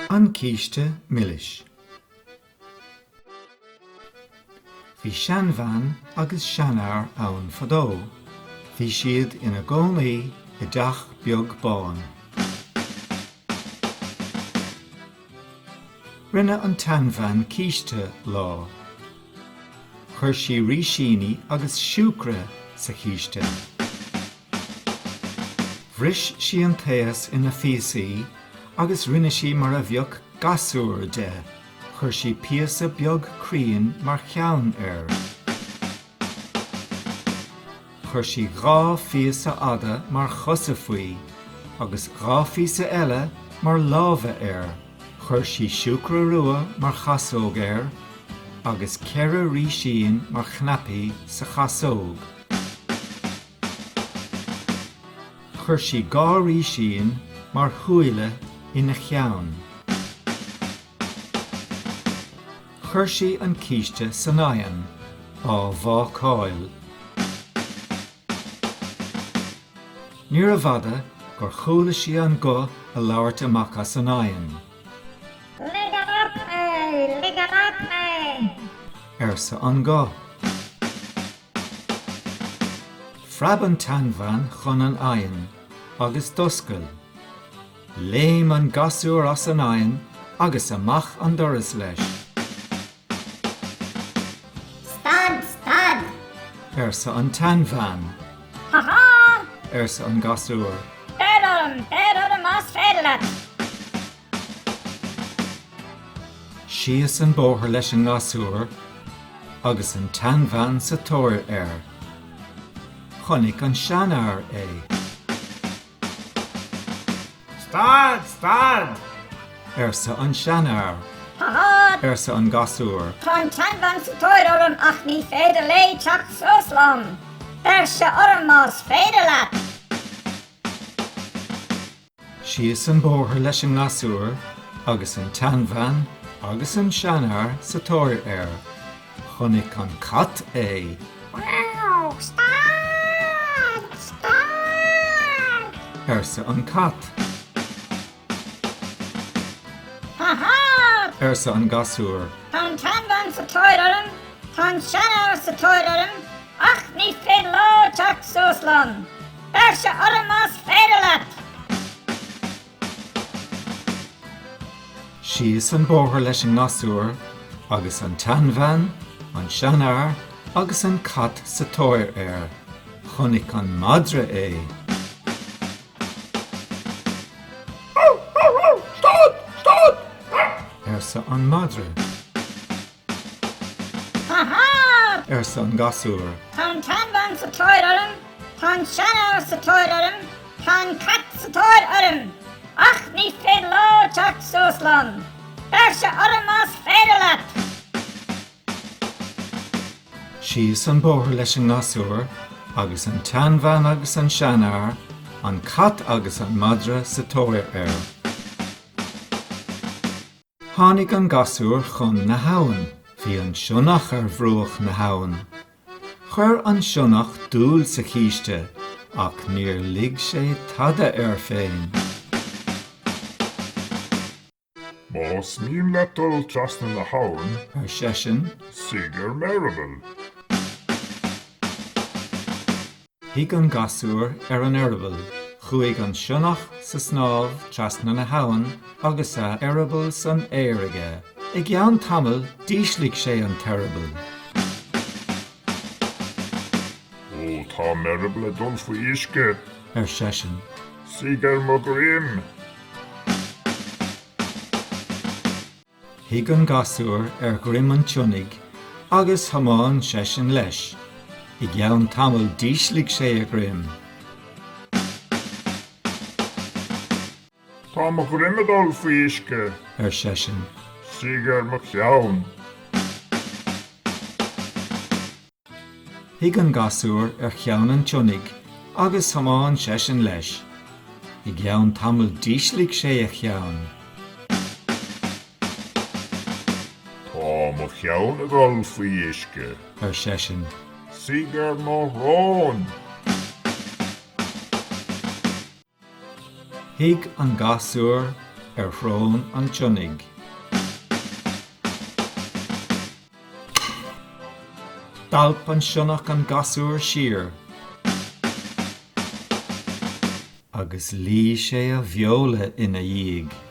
An Císte Milis. Bhí seanbhean agus seanfhear ann fadó. Bhí siad ina gcónaí i dteach beag bán. Rinne an tseanbhean císte lá. Chuir sí rísíní agus siúcra sa chíste. Bhris sí an taos ina phíosaí agus rinne sí mar a bheadh gasúr de, chuir sí píosa beag cruinn mar cheann air. Chuir sí dhá phíosa fhada mar chosa faoi agus dhá phíosa eile mar lámha air. Chuir sí siúcra rua mar chasóg air agus ceithre rísín mar chnaipí sa chasóg. Chuir sí dhá rísín mar shúile ina cheann. Chuir sí an císte san oigheann á bhácáil. Níorbh fhada gur chuala sí an guth ag labhairt amach as an oigheann. Lig amach mé! Lig amach mé! arsa an guth. Phreab an tseanbhean chun an oighinn agus d'oscail. Léim an gasúr as an oigheann agus amach an doras leis. Stad! Stad! arsa an tseanbhean. Ha ha! arsa an gasúr. Beir orm! Beir orm más féidir leat! Síos an bóthar leis an ngasúr agus an tseanbhean sa tóir air. Chonaic an seanfhear é. Stad! Stad! arsa an seanfhear. Ha ha! arsa an gasúr. Tá an tseanbhean sa tóir orm ach ní féidir léi teacht suas liom. Beirse orm más féidir leat! Síos an bóthar leis an ngasúr agus an tseanbhean agus an seanfhear sa tóir air. Chonaic an cat é. Mí-eamh! Stad! Stad! arsa an cat. Ha ha! arsa an gasúr. Tá an tseanbhean sa tóir orm, tá an seanfhear sa tóir orm, ach ní féidir leo teacht suas liom. Beirse orm más féidir leat! Síos an bóthar leis an ngasúr agus an tseanbhean, an seanfhear agus an cat sa tóir air. Chonaic an madra é. Stad! Stad! arsa an madra. Ha ha! arsa an gasúr. Tá an tseanbhean sa tóir orm, tá an seanfhear sa tóir orm, tá an cat sa tóir orm, ach ní féidir leo teacht suas liom. Beirse orm más féidir leat! Síos an bóthar leis an ngasúr, agus an tseanbhean agus an seanfhear, an cat agus an madra sa tóir air. Tháinig an gasúr chun na h-abhann. Bhí an sionnach ar bhruach na h-abhann. Chuir an sionnach dúil sa chíste ach níor lig sé tada air féin. Más mian leat dul trasna na h-abhann. ar seisean, suigh ar m'eireaball. Shuigh an gasúr ar an eireaball. Chuaigh an sionnach sa snámh trasna na habhann agus a eireaball san aer aige. I gceann tamaill d'ísligh sé an t-eireaball. Ó, tá m'eireaball ag dul faoi uisce! ar seisean. Suigh ar mo dhroim! Shuigh an gasúr ar dhroim an tsionnaigh agus thiomáin seisean leis. I gceann tamaill d'ísligh sé a dhroim. Tá mo dhroim ag dul faoi uisce. ar seisean. Suigh ar mo cheann. Shuigh an gasúr ar cheann an tsionnaigh agus thiomáin seisean leis. I gceann tamaill d'ísligh sé a cheann. Tá mo cheann ag dul faoi uisce! ar seisean. Suigh ar mo shrón! Shuigh an gasúr ar shrón an tsionnaigh. D'alp an sionnach an gasúr siar agus ligh sé a bheola ina dhiaidh.